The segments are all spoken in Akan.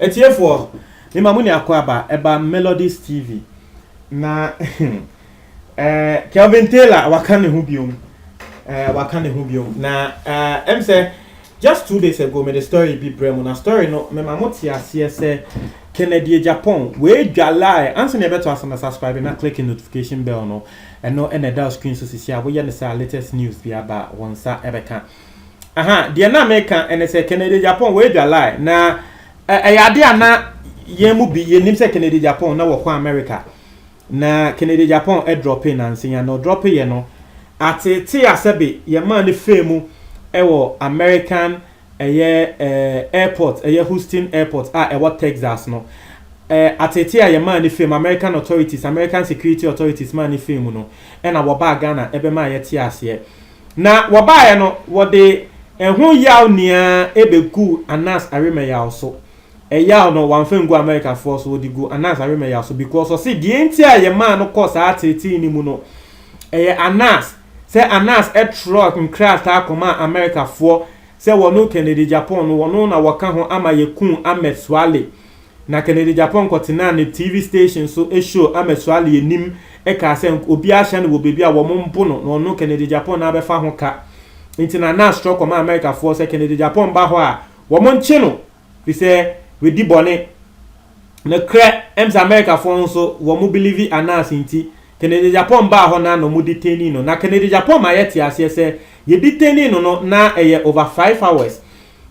Atiefoɔ, me ma mo ne akoaba ɛba Melodies TV na eh, Kelvin Taylor waka ne ho biom eh, waka ne ho biom na eh, ɛm sɛ Just two days ago mede story bi brɛ mo na story no mema mo te aseɛ sɛ Kennedy Agyapong wei dwalae ansa na yɛbɛto asa na subscribe na click notification bell no ɛno na ɛda wo screen so sisi a woyɛ no saa latest news bi aba wo nsa ɛbɛka aha deɛ na meka ɛne sɛ Kennedy Agyapong wei dwalae na ɛyɛ adeɛ a na yɛn mu bi yɛnim sɛ Kennedy Agyapong na wɔkɔ America Na Kennedy Japan drɔpee nansenya na ɔdrɔpeeɛ no, ateetee a sɛbe yɛmaa no fee mu wɔ American ɛyɛ eh, airport, ɛyɛ Houston Airport a ɛwɔ Texas no, eh, ateetee a yɛmaa no fee mu, American authorities, American security authorities maa no fee mu no, ɛna wɔbaa Ghana ɛbɛmaa yɛte aseɛ. Na wɔbaeɛ no, wɔde ɛho yaw nyinaa ɛbɛguu Anas Arimɛyaw so. Ɛyaw no, wɔamfa angu Amerikafoɔ so, wɔde guu Anas Arimaya so because ɔse deɛ nti a yɛmaa no kɔɔ saa teetee no mu no, ɛyɛ Anas, sɛ Anas twerɛɛ nkrataa kɔmaa Amerikafoɔ sɛ wɔne Kennedy Japan no wɔno na wɔka ho ama yɛkuu Ahmed Suale. Na Kennedy Japan kɔtenaa ne TV station so show Ahmed Suale anim kaa sɛ obiara ahyɛ no wɔ baabi a wɔn mbo no na ɔno Kennedy Japan na abɛfa ho ka. Nti na Anas twerɛ kɔmaa Amerikafoɔ sɛ Kennedy Japan ba hɔ a wɔn nkye no. fisɛ w'adi bɔne nokorɛ ɛm sɛ America foɔ ho so wɔ mo bilivi announce nti Kennedy Agyapong baa hɔ na na ɔmo detaining no na Kennedy Agyapong ma yɛ te aseɛ sɛ yɛ detaining no no na ɛyɛ over five hours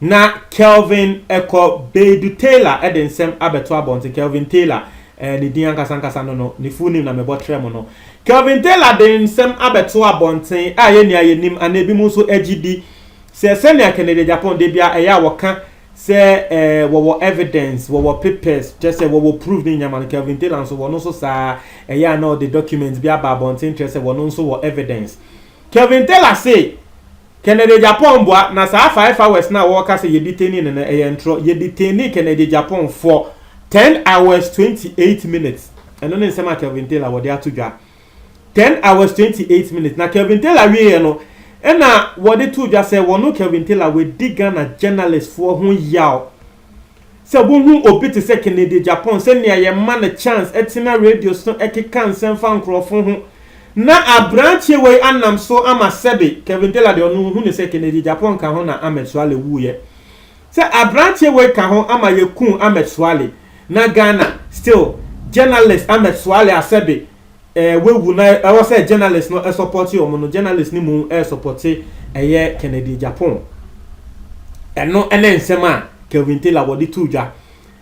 na Kelvin ɛkɔ Beidu Taylor ɛde nsɛm abɛto abɔnten Kelvin Taylor ɛɛ ne din ankasa ankasa no no ne full name na mebɔ trɛ mo no Kelvin Taylor de nsɛm abɛto abɔnten a yɛ nia yɛ nim ana ebi mo nso ɛgye di Sɛ sɛnea Kennedy Agyapong da biara ɛyɛ a wɔka sɛ ɛɛ wɔwɔ evidence, wɔwɔ papers, kyerɛ sɛ wɔwɔ proof ne nyama no, Kelvin Taylor nso wɔn nso saa ɛyɛ a na ɔde document bi aba abɔnten kyerɛ sɛ wɔn nso wɔ evidence. Kelvin Taylor se Kennedy Agyapong boa na saa five hours no a wɔka sɛ yɛdetaining no no ɛyɛ ntorɔ. Yɛdetaining Kennedy Agyapong for ten hours twenty eight minutes. Ɛno ne nsɛm a Kelvin Taylor wɔde ato dwa. Ten hours twenty eight minutes na Kelvin Taylor wieɛ no ɛna wɔde too dwa sɛ wɔno Kelvin Taylor wadi Ghana journalist foɔ ho yaw sɛ wohu obi te sɛ Kennedy Agyapong sɛ nea yɛma no chance ɛtena radio so ɛkeka nsɛm fa nkorɔfo ho na abranteɛ wei anam so ama sɛbe Kelvin Taylor deɛ ɔno wohu no sɛ Kennedy Agyapong ka ho na Ahmed Suale wuiɛ sɛ abranteɛ wei ka ho ama yɛ kuu Ahmed Suale na Ghana still journalist Ahmed Suale asɛbe eh wawu na ɛwɔ sɛ journalist no ɛsɔpɔte ɔmo no journalist no mu ɛsɔpɔte ɛyɛ Kennedy Agyapong ɛno ɛne nsɛm a Kelvin Taylor wɔde too dwa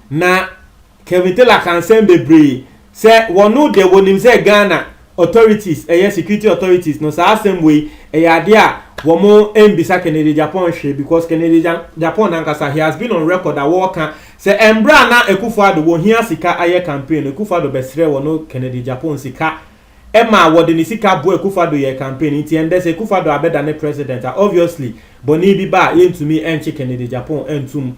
na Kelvin Taylor ka nsɛm bebree sɛ wɔno de wɔnim sɛ Ghana authorities ɛyɛ security authorities no saa asɛm wei ɛyɛ adeɛ a wɔn ɛnbisa Kennedy Agyapong hwee because Kennedy Agyapong nankasa he has been on record a wɔɔka sɛ ɛmberɛ a na Akufo Addo wɔhia sika ayɛ campaign no Akufo Addo bɛsrɛ wɔno Kennedy Agyapong sika ɛma wɔde ne sika boa Akufo Addo yɛɛ campaign nti ɛndɛ sɛ Akufo Addo abɛda ne president a obviously bɔne bi ba a yɛntumi ɛnkye Kennedy Agyapong ɛntum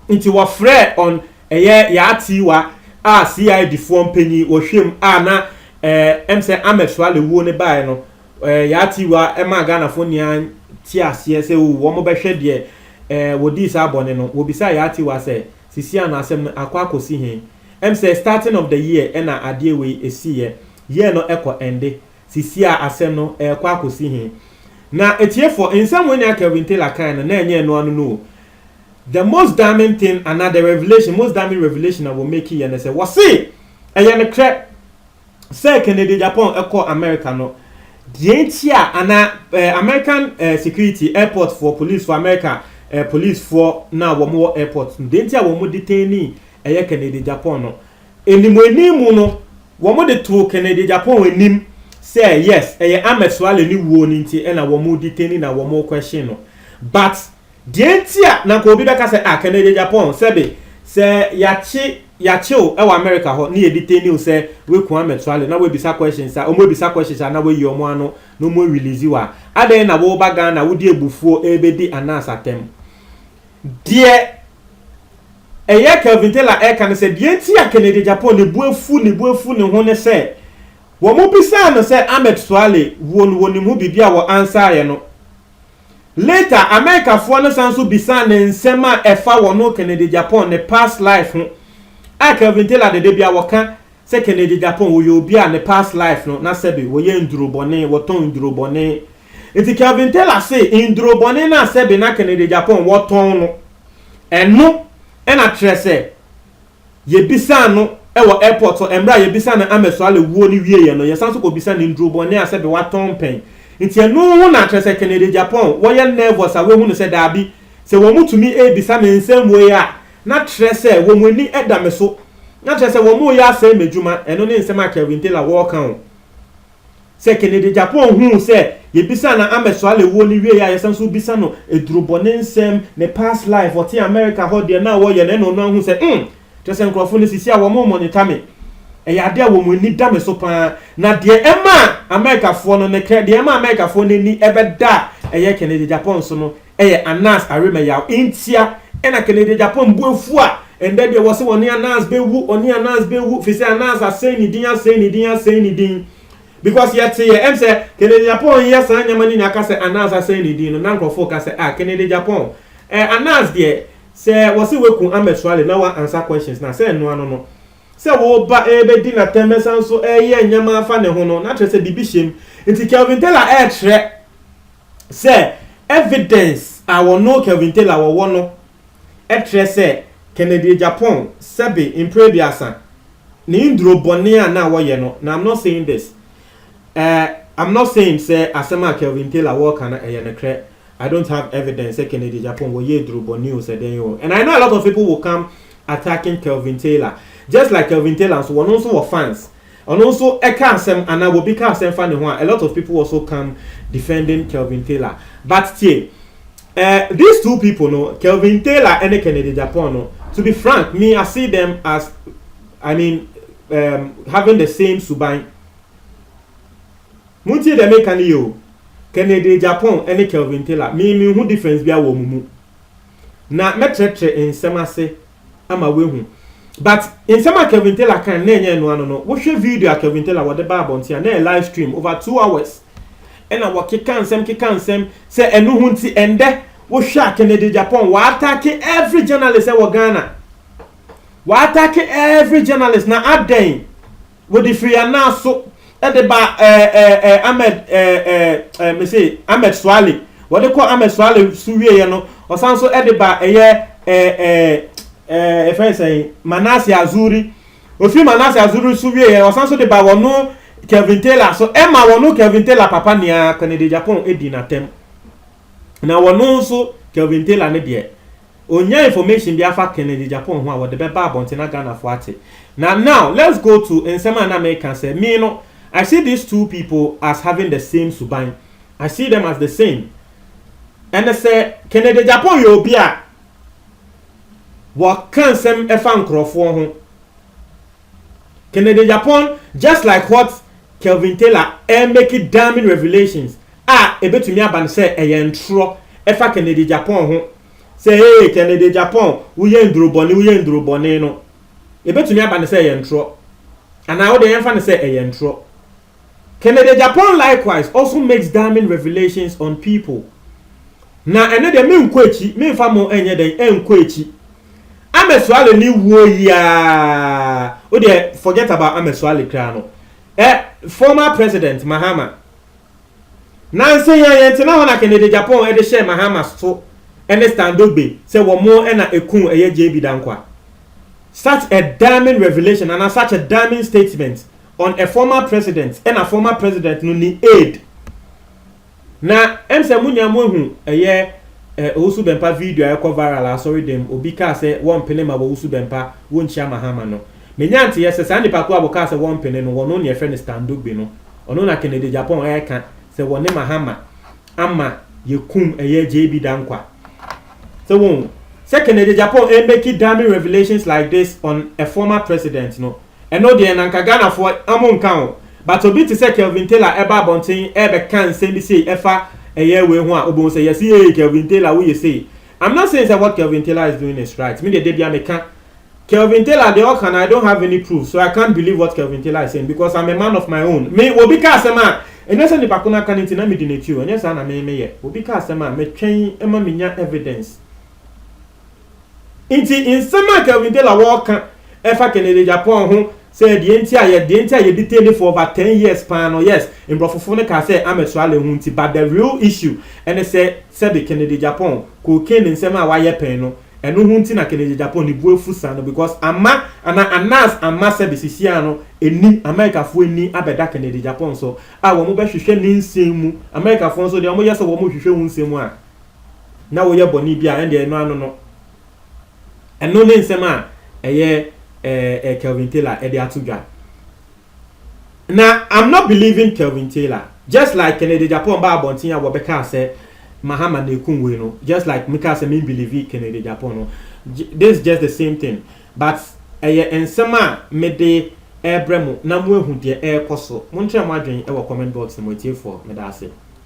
nti wɔfrɛ on Ɛyɛ Yaa Tiwa a CID foɔ mpanyin wɔhwɛm a na eh, ɛm sɛ Ahmed Suale wuo no baeɛ no, eh, Yaa Tiwa maa Ghanafoɔ nyinaa te aseɛ sɛ o, wɔn bɛhwɛ deɛ eh, wɔdii saa bɔne no. Wɔbisaa Yaa Tiwa sɛ, sisi ano asɛm no akɔ akɔsi he? Ɛm sɛ starting of the year ɛna adeɛ wei ɛsiiɛ. Year no ɛkɔ ɛnde. Sisi a asɛm no ɛɛkɔ akɔsi he? Na atiefoɔ, nsɛm wei nea Kelvin Taylor kae no, na ɛnyɛ ɛno ano no o. the most damning thing anaa the revelation most damning revelation a wɔ make yɛ ne sɛ wɔse ɛyɛ ne korɛ sɛ Kennedy Japan ɛkɔ America no deɛ nti a anaa eh, American eh, security airport foɔ police for America eh, police foɔ no a wɔn wɔ airport no deɛ nti a wɔn detaini ɛyɛ Kennedy Japan no anim anim mu no wɔn de too Kennedy Japan anim sɛ yes ɛyɛ Ahmed Suale ne wuo no nti ɛna wɔn detaini na wɔn question no but Deɛ nti a na nka obi bɛka sɛ ah kɛnɛ yɛ Japan sɛbe sɛ yakye yakye wo ɛwɔ America hɔ ne yɛ detain wo sɛ waku amɛtuale na wabisa questions a ɔmo abisa questions a na wayi ɔmo ano na ɔmo arelease wo a adɛn na woba Ghana wode abufuo ɛrebɛdi Anas atɛm deɛ ɛyɛ Kelvin Taylor ɛreka ne sɛ deɛ nti a kɛnɛ yɛ Japan ne bo afu ne bo afu ne ho ne sɛ wɔn bisaa no sɛ Ahmed Suale wuo no wɔnim ho biribi a wɔ answer yɛ no Later, Amerikafoɔ no san nso bisaa no nsɛm a ɛfa wɔn Kennedy Japan ne past life ho a Kelvin Taylor de dabia wɔka sɛ Kennedy Japan wɔyɛ obi a ne past life no na sɛbe wɔyɛ nduro bɔne, wɔtɔn nduro bɔne. Nti Kelvin Taylor se nduro bɔne no a sɛbe na Kennedy Japan wɔtɔn no, ɛno na kyerɛ sɛ. Yɛbisaa no wɔ airport hɔ, mmerɛ a yɛbisaa no Ahmed Suale wuo no wieɛ no, yɛsan nso kɔ bisa no nnuro bɔne a sɛbe watɔn pɛn. Nti ɛno ho na kyerɛ sɛ Kennedy Agyapong wɔyɛ nervous a wahunu sɛ daabi, sɛ wɔn tumi rebisa me nsɛm wei a, na kyerɛ sɛ wɔn ani da me so, na kyerɛ sɛ wɔn reyɛ asɛe m'adwuma, ɛno ne nsɛm a Kelvin Taylor wɔreka o. Sɛ Kennedy Agyapong huu sɛ yɛbisaa no Ahmed Suale wuo no wieɛ a yɛsan nso rebisa no adurubɔ, ne nsɛm, ne past life, ɔte America hɔ, deɛ na ɔyɛ no ɛna ɔno ahu sɛ umm! Kyerɛ sɛ nkurɔfo no sisi a wɔn remonita me. Ɛyɛ adeɛ a wɔn ani da me so pa ara. Na deɛ ɛmaa Americafoɔ no ne krɛ, deɛ ɛmaa Americafoɔ no ani bɛda a ɛyɛ Kennedy Agyapong so no, ɛyɛ Anas Aremeyaw ntia ɛna Kennedy Agyapong bo afu a ɛndɛ deɛ wɔse wɔne Anas bɛwu wɔne Anas bɛwu fisɛ Anas asɛe ne din asɛe ne din asɛe ne din because yɛteeɛ ɛm sɛ Kennedy Agyapong nyɛ saa nneɛma no nyinaa ka sɛ Anas asɛe ne din no na nkorɔfoɔ ka sɛ ah Kennedy Agyapong eh Anas deɛ sɛ wɔse waku Ahmed Suale na wa answer questions no a sɛ ɛno ano no sɛ wo ba ɛrebɛdi no atɛm bɛsan so ɛreyɛ nneɛma afa ne ho no na kyerɛ sɛ biribi hyɛm nti Kelvin Taylor ɛrekyerɛ sɛ evidence a wɔno Kelvin Taylor wɔwɔ no kyerɛ sɛ Kennedy Agyapong sɛbe mpre aduasa ne nduro bɔne a na wɔyɛ no na I'm not saying this eh, I'm not saying sɛ asɛm a Kelvin Taylor wɔka no ɛyɛ nokrɛ I don't have evidence sɛ Kennedy Agyapong wɔyɛ aduro bɔne o sɛ dɛn o and I know a lot of people will come attacking Kelvin Taylor just like Kelvin Taylor nso wɔno nso wɔ fans Ɔno nso ɛka asɛm anaa wobi ka asɛm fa ne ho a, a lot of people also come defending Kelvin Taylor. But tie, eh, these two people no, Kelvin Taylor ɛne Kennedy Agyapong no, to be frank, me I see them as, I mean, um, having the same suban. Montie deɛ meka no yie o, Kennedy Agyapong ɛne Kelvin Taylor, me menhu difference biara wɔ wɔn mu. na mɛtrɛtrɛ nsɛm ase ama woahu but nsɛm a Kevin Taylor kan na ɛnyɛ ɛno ano no wohwɛ video a Kevin Taylor wɔde baa abɔnten a na ɛyɛ live stream over two hours ɛna wɔkeka nsɛm keka nsɛm sɛ ɛno ho nti ɛndɛ wohwɛ a Kennedy Agyapong wɔatake every journalist ɛwɔ Ghana wɔatake every journalist na adɛn Wɔde firi yɛn nan so de ba ɛɛ ɛɛ Ahmed ɛɛ ɛɛ mese Ahmed Suale wɔde kɔ Ahmed Suale so wieɛ no ɔsan so de ba ɛyɛ ɛɛ ɛɛ ɛɛ yɛfrɛ sɛn Manase Azuri ofiri Manase Azuri so wieɛ ɔsan so de ba wɔno Kelvin Taylor so ɛma wɔno Kelvin Taylor papa nea Kennedy Agyapong di n'atɛm na wɔno nso Kelvin Taylor ne deɛ Ɔnyaa information bi afa Kennedy Agyapong ho a wɔde bɛba abɔnten na Ghanafoɔ ate. Na now let's go to nsɛm a na meka sɛ me no I see these two people as having the same suban. I see them as the same. Ɛne sɛ Kennedy Agyapong yɛ obi a wɔka nsɛm fa nkurɔfoɔ ho. Kennedy Agyapong just like what Kelvin Taylor remake damning revelations a ɛbɛtumi aba no sɛ ɛyɛ ntorɔ ɛfa Kennedy Agyapong ho sɛ hey Kennedy Agyapong woyɛ nduro bɔne woyɛ nduro bɔne no ɛbɛtumi aba no sɛ ɛyɛ ntorɔ anaa wode yɛmfa no sɛ ɛyɛ ntorɔ Kennedy Agyapong likewise also makes damning revelations on people. Na ɛno deɛ menkɔ akyi, memfa mo ɛnyɛ dɛn, ɛnkɔ akyi. Amesuale ne wuo yi aa, wo deɛ forget about Amesuale koraa no. Ɛ, former president Mahama. Nansa yi a yɛntena hɔ na Kennedy Agyapong ɛde hyɛɛ Mahama so ɛne Stan Dogbe sɛ wɔn ɛna ɛkuu ɛyɛ JB Dankwah. Such a damning revelation anaa such a damning statement on a former president ɛna former president no ne aide na ɛm sɛ mo nyinaa mo ahu ɛyɛ eh, owusu bɛmpa video a ɛkɔ viral asɔre dɛm obi kaa sɛ wɔmpene ma wɔwusu bɛmpa wɔnkyia mahama no menya nteɛ sɛ saa nipa ko a wɔkaa sɛ wɔmpene no wɔno ne ɛfrɛ no standogbe no ɔno na kennedy japan ɛka sɛ wɔne mahama ama yɛkum ɛyɛ jb dankwa sɛ wɔn sɛ kennedy japan ɛmɛki damning revelations like this on a former president no Ɛno deɛ na nka Ghanafoɔ ɔmo nka ho but obi te sɛ Kelvin Taylor ɛba abɔnten ɛɛbɛka nsɛm bi sei ɛfa ɛyɛ wei ho a wobɛhu sɛ yes eei Kelvin Taylor woyɛ sei I'm not saying sɛ what Kelvin Taylor is doing is right me deɛ da biara meka Kelvin Taylor deɛ ɔka no I don't have any proof so I can't believe what Kelvin Taylor is saying because I'm a man of my own me obi ka asɛm a ɛnyɛ sɛ nipa ko no aka no nti na medi n'akyi o ɛnyɛ saa na me meyɛ obi ka asɛm a metwɛn ma menya evidence Enti nsɛm a Kelvin Taylor wɔ ka ɛfa Kennedy Agyapong ho sɛ deɛ nti a yɛ deɛ nti a yɛ detain no for over ten years paa no, yes, mborɔfofo no kaa sɛ Ahmed Suale ho nti but the real issue ɛne sɛ sɛbe Kennedy Agyapong cocaine nsɛm a wayɛ pɛn no ɛno ho nti na Kennedy Agyapong ne bo afu saa no because amma anaa Anas amma sɛbe sisiaa no anim Amerikafoɔ ani abɛda Kennedy Agyapong so a wɔn bɛhwehwɛ ne nsɛm mu Amerikafoɔ nso deɛ wɔn yɛ sɛ wɔn rehwehwɛ wo nsɛm a na woyɛ bɔne bi a, ɛndeɛ ɛno ano no, ɛno ne nsɛm a ɛyɛ ɛɛ Kelvin Taylor ɛde ato dwa. Na I'm not believing Kelvin Taylor, just like Kennedy Agyapong baa abɔnten a wɔbɛkaa sɛ Mahama na ekum wei no, just like mekaa sɛ me believe Kennedy Agyapong no, this is just the same thing, but ɛyɛ nsɛm a mede ɛrebrɛ mo na moahu deɛ ɛrekɔ so. Monkyerɛ mo adwene wɔ comment box no mu atiefoɔ, meda ase.